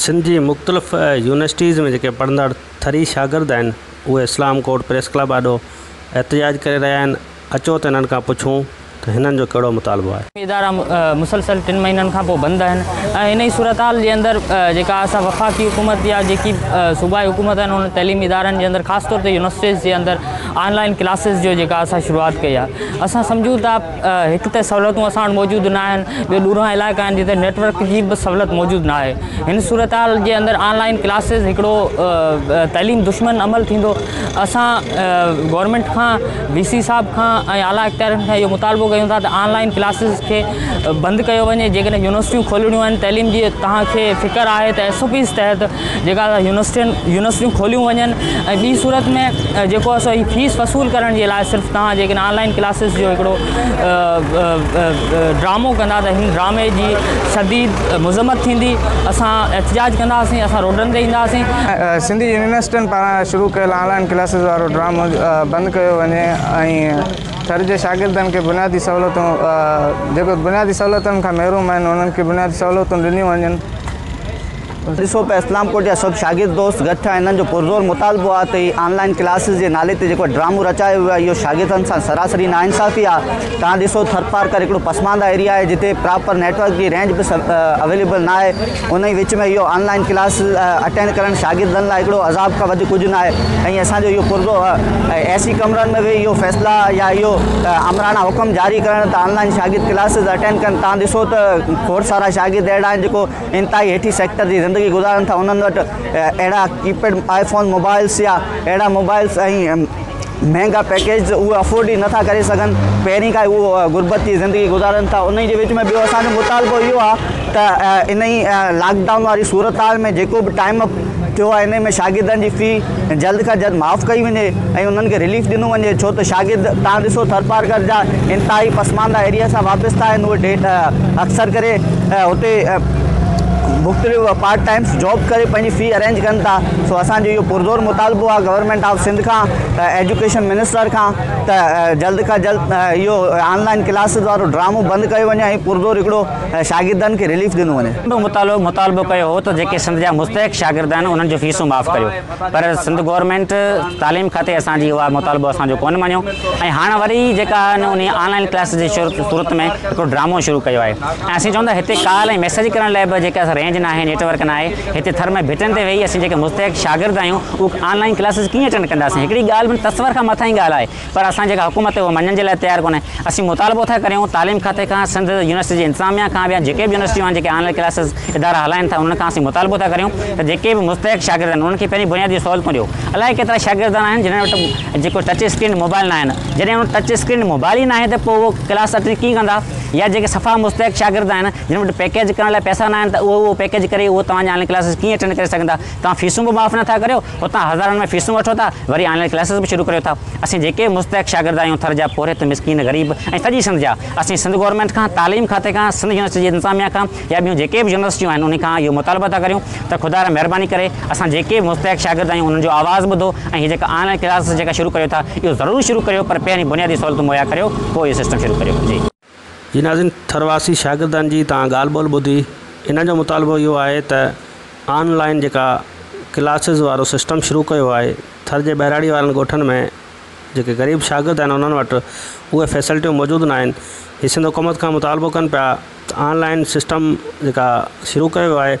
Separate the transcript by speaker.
Speaker 1: سنڌ جي مختلف يونيورسٽيز ۾ جيڪي پڙهندڙ ٿري شاگرد آهن اهي اسلام ڪوٽ پريس ڪلب آڏو احتجاج ڪري رهيا آهن اچو ته هنن کان پڇون ته هنن جو ڪهڙو مطالبو آهي. ادارا مسلسل
Speaker 2: ٽن مهينن کان پوء بند آهن ۽ انهي صورتحال جي اندر جيڪا اسان وفاقي حڪومت يا جيڪي صوبائي حڪومت آهن انهن تعليمي ادارن جي اندر خاص طور تي يونيورسٽيز جي اندر آن لائن ڪلاسز جو جيڪا اسان شروعات ڪئي آهي اسان سمجهون ٿا هڪ ته سهولتون اسان وٽ موجود نه آهن، ٻيو ڏورانهن علائقا آهن جتي نيٽ ورڪ جي به سهولت موجود نه آهي. هن صورتحال جي اندر آن لائين ڪلاسز هڪڙو تعليم دشمن عمل ٿيندو. اسان گورنمينٽ کان، وي سي صاحب کان ۽ اعليٰ اختيارين کان اهو مطالبو ڪيون ٿا ته آن لائين ڪلاسز کي بند ڪيو وڃي، جيڪڏهن يونيورسٽيون کولڻيون آهن تعليم جي توهان کي فڪر آهي ته ايس او پيز تحت جيڪا يونيورسٽين يونيورسٽيون کوليون وڃن ۽ ٻي صورت ۾ جيڪو اسو هي فيس وصول ڪرڻ جي لاء صرف توهان جيڪڏهن آنلائن ڪلاسز جو هڪڙو ڊرامو ڪندا ته هن ڊرامي جي شديد مذمت ٿيندي اسان احتجاج ڪنداسين اسان روڊن تي اينداسين سنڌي يونيورسٽين
Speaker 3: پاران شروع ڪيل آنلائن ڪلاسز وارو ڊرامو بند ڪيو وڃي ۽ ٿر جي شاگردن کي بنيادي سهولتون جيڪو بنيادي سهولتن کان محروم آهن انهن کي بنيادي سهولتون ڏنيون وڃن.
Speaker 4: ڏسو ته اسلام ڪوٽ جا سڀ شاگرد دوست گڏ ٿيا، انهن جو پرزور مطالبو آهي ته هي آن لائين ڪلاسز جي نالي تي جيڪو ڊرامو رچايو ويو آهي اهو شاگردن سان سراسري ناانصافي آهي، توهان ڏسو ٿرپارڪر هڪڙو پسمانده ايريا آهي جتي پراپر نيٽ ورڪ جي رينج به اويليبل ناهي، ان ئي وچ ۾ اهو آن لائين ڪلاسز اٽينڊ ڪرڻ شاگردن لاء هڪڙو عذاب کان وڌيڪ ڪجهه ناهي ۽ اسان جو اهو پرزور اي سي ڪمرن ۾ ويهي اهو فيصلا يا اهو آمراڻا حڪم جاري ڪرڻ ته آن لائين شاگرد ڪلاسز اٽينڊ ڪن، توهان ڏسو ته کوڙ سارا شاگرد اهڙا آهن جيڪو انتهائي هيٺين سيڪٽر جي زندگي گذارن ٿا انهن وٽ اهڙا ڪي پيڊ آئي فون موبائلز يا اهڙا موبائلز ۽ مهنگا پيڪيجز اهي افورڊ ئي نٿا ڪري سگهن پهرين کان ئي اهي غربت جي زندگي گذارن ٿا انهي جي وچ ۾ ٻيو اسان جو مطالبو اهو آهي ته انهي لاڪ ڊائون واري صورتحال ۾ جيڪو به ٽائيم ٿيو آهي انهي ۾ شاگردن جي في جلد کان جلد معاف ڪئي وڃي ۽ انهن کي رليف ڏنو وڃي ڇو ته شاگرد تهان ڏسو ٿرپارڪر جا انتهائي پسمانده ايريا سان وابسته آهن اهي ڊيٽ اڪثر ڪري اتي مختلف پارٽ ٽائمس جاب ڪري پنهنجي في ارينج ڪن ٿا سو اسان جو اهو پرزور مطالبو آهي گورنمينٽ آف سنڌ کان ايجوڪيشن منسٽر کان ته جلد کان جلد اهو آن لائن ڪلاسز وارو ڊرامو بند ڪيو وڃي ۽ پرزور هڪڙو ۽ شاگردن کي رليف ڏنو وڃي. سنڌ متعلق مطالبو ڪيو
Speaker 2: هو ته جيڪي سنڌ جا مستحق شاگرد آهن انهن جون فيسون معاف ڪريو پر سنڌ گورنمينٽ تعليم کاتي اسان جي اها مطالبو اسان جو ڪونه مڃيو ۽ هاڻ وري جيڪا آهي انهي آن لائين ڪلاسز جي صورت ۾ هڪڙو ڊرامو شروع ڪيو آهي ۽ اسين چون ٿا هتي ڪال ۽ ميسيج ڪرڻ لاء به جيڪي اسان رينج ناهي نيٽ ورڪ ناهي هتي ٿر ۾ ڀٽن تي ويهي اسين جيڪي مستحق شاگرد آهيون اهي آن لائين ڪلاسز ڪيئن اٽينڊ ڪنداسين هڪڙي ڳالهه تصور کان مٿانهين ڳالهه آهي پر اسان جي جيڪا حڪومت اهو مڃڻ جي لاء تيار ڪونهي. اسين مطالبو ٿا ڪريون تعليم کاتي کان، سنڌ يونيورسٽي جي انتظاميا کان به يا جيڪي به يونيورسٽيون آهن جيڪي آن لائين ڪلاسز ادارا هلائين ٿا انهن کان اسين مطالبو ٿا ڪريون ته جيڪي به مستحق شاگرد آهن انهن کي پهرين بنيادي سهولتون ڏيو. الائي ڪيترا شاگرد آهن جنهن وٽ جيڪو ٽچ اسڪرين موبائل ناهن. جڏهن انهن وٽ ٽچ اسڪرين موبائل ئي ناهي ته پوء اهو ڪلاس اٽينڊ ڪيئن ڪندا يا جيڪي صفا مستحق شاگرد آهن جن وٽ پيڪيج ڪرڻ لاء پئسا ناهن ته اهو اهو پيڪيج ڪري اهو توهان جي آن لائين ڪلاسز ڪيئن اٽينڊ ڪري سگهندا. توهان فيسون به معاف نٿا ڪريو. اتان هزارن ۾ فيسون وٺو ٿا، وري آن لائين ڪلاسز به شروع ڪريو ٿا. اسين جيڪي به مستحق شاگرد آهيون، ٿر جا پورهيت، مسڪين، غريب ۽ سڄي سنڌ جا، اسين سنڌ گورنمينٽ کان، تعليم کاتي کان، سنڌ يونيورسٽي جي انتظاميا کان يا ٻيون جيڪي به يونيورسٽيون آهن انهن کان اهو مطالبو ٿا ڪريون ته خدا را مهرباني ڪري اسان جيڪي به مستحق شاگرد آهيون انهن جو آواز ٻڌو ۽ هي جيڪا آن لائين ڪلاسز جيڪا شروع ڪريو ٿا اهو ضرور شروع ڪريو پر پهرين بنيادي سهولتون مهيا ڪريو پوء اهو سسٽم شروع ڪريو. جي. جي ناظرين
Speaker 1: ٿر واسي شاگردن جي تان ڳالھ ٻولھ ٻڌي انهن جو مطالبو اهو آهي ته آن لائين جيڪا ڪلاسز وارو سسٽم شروع ڪيو آهي ٿر جي ٻهراڙي وارن ڳوٺن ۾ جيڪي غريب شاگرد آهن انهن وٽ اهي فيسلٽيون موجود نه آهن هي سنڌ حڪومت کان مطالبو ڪن پيا ته آن لائين سسٽم جيڪا شروع ڪيو آهي